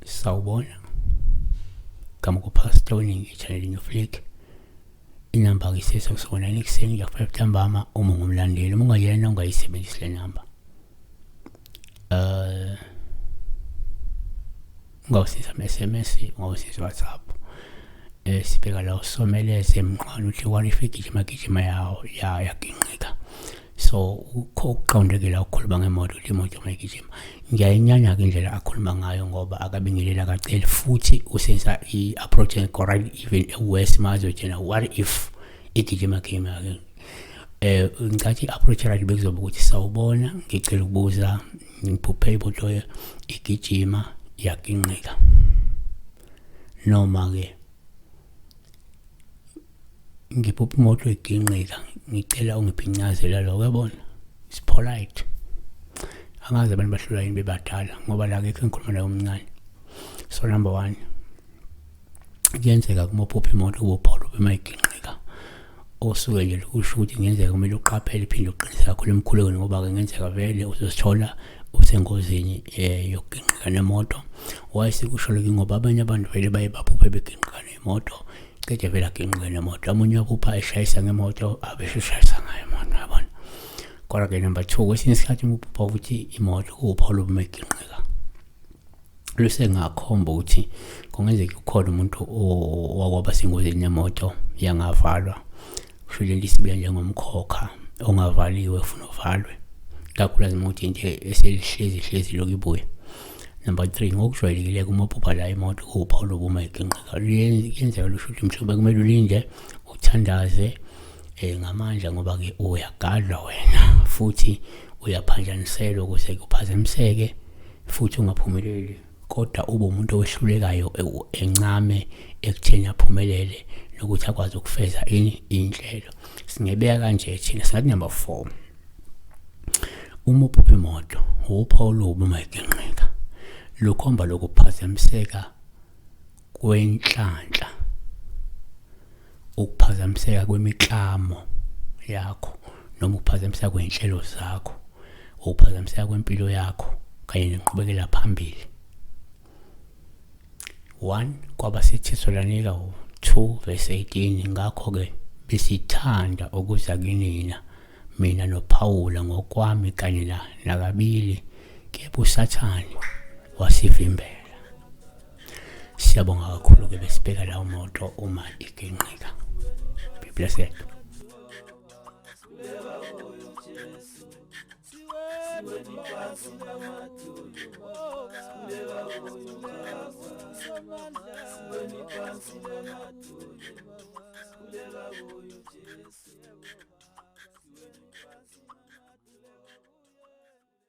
sawubona gama kupastor oningi echanelini yoflick inamba ngisese kusonela ekuseni ngiyafuna buthambama uma ngumlandeli uma ungayena ungayisebenzisi le namba um uh, ungawusiza ama-sms ungawusiza whatsapp um sibheka la usomeleze emnqwana uthi kwani ifigijima gijima yawo ya yaginqika so ukho ukuqondekile ukukhuluma ngemoto uthi imoto uma igijima ngiyayinyanya-ke indlela akhuluma ngayo ngoba akabingelela kaceli futhi usenza i-approach engekho right even ewes ma azotshena what if igijima gijima um eh, ngicathi i-approach right bekuzoba ukuthi sawubona ngicela ukubuza ngiphuphe imoto igijima yaginqika noma ke ngiphupha imoto iginqika ngicela ungiphincazela lokho yabona it's polite angazi abantu bahlulwa yini bebadala ngoba la kekho engikhuluma naye omncane so number one kuyenzeka kuma uphupha imoto ubophola ubemayigingqika osuke nje lokusho ukuthi ngenzeka kumele uqaphele iphinde uqinise kakhulu emkhulekweni ngoba-ke ngenzeka vele uzosithola usengozini um eh, yokugingqika nemoto wayesekusho loke ngoba abanye abantu vele baye baphuphe begingqika nemoto cede vele agingqike nemoto amunye waphupha eshayisa ngemoto abesho ushayisa ngayo imoto yabona kodwa-ke number two kwesinye isikhathi uma uphupha ukuthi imoto kuwuphawula ubumegingqika lusengakhomba ukuthi kungenzeka ukhona umuntu owakwaba sengozini yemoto yangavalwa kusho lento isibuya njengomkhokha ongavaliwe funa uvalwe kakhulukazi imoto into eselihlezi hlezi lokhu ibuya number three ngokujwayelekile uma uphupha la imoto kuwuphawu lokuma iginqika luyenzeka lusho ukuthi mhlawumbe kumele ulinde uthandaze eh ngamandla ngoba ke uyagadla wena futhi uyaphanjaniselwa ukuze kuphazamiseke futhi ungaphumeleli kodwa ube umuntu owehlulekayo encame ekutheni aphumelele nokuthi akwazi ukufeza ini inhlelo singebeka kanje thina singathi number 4 uma uphupha imoto uphawu lobu uma iginqika lukhomba lokuphazamiseka kwenhlanhla ukuphazamiseka kwemiklamo yakho noma ukuphazamiseka kwey'nhlelo zakho ukuphazamiseka kwempilo yakho kanye nenqubekela phambili one kwabasethetholanika two verse 18 ngakho-ke besithanda ukuza kinina mina nophawula ngokwami kanye nakabili kepha usathane wasivimbela siyabonga kakhulu-ke besibheka lawo moto uma iginqika be blessed Kuleka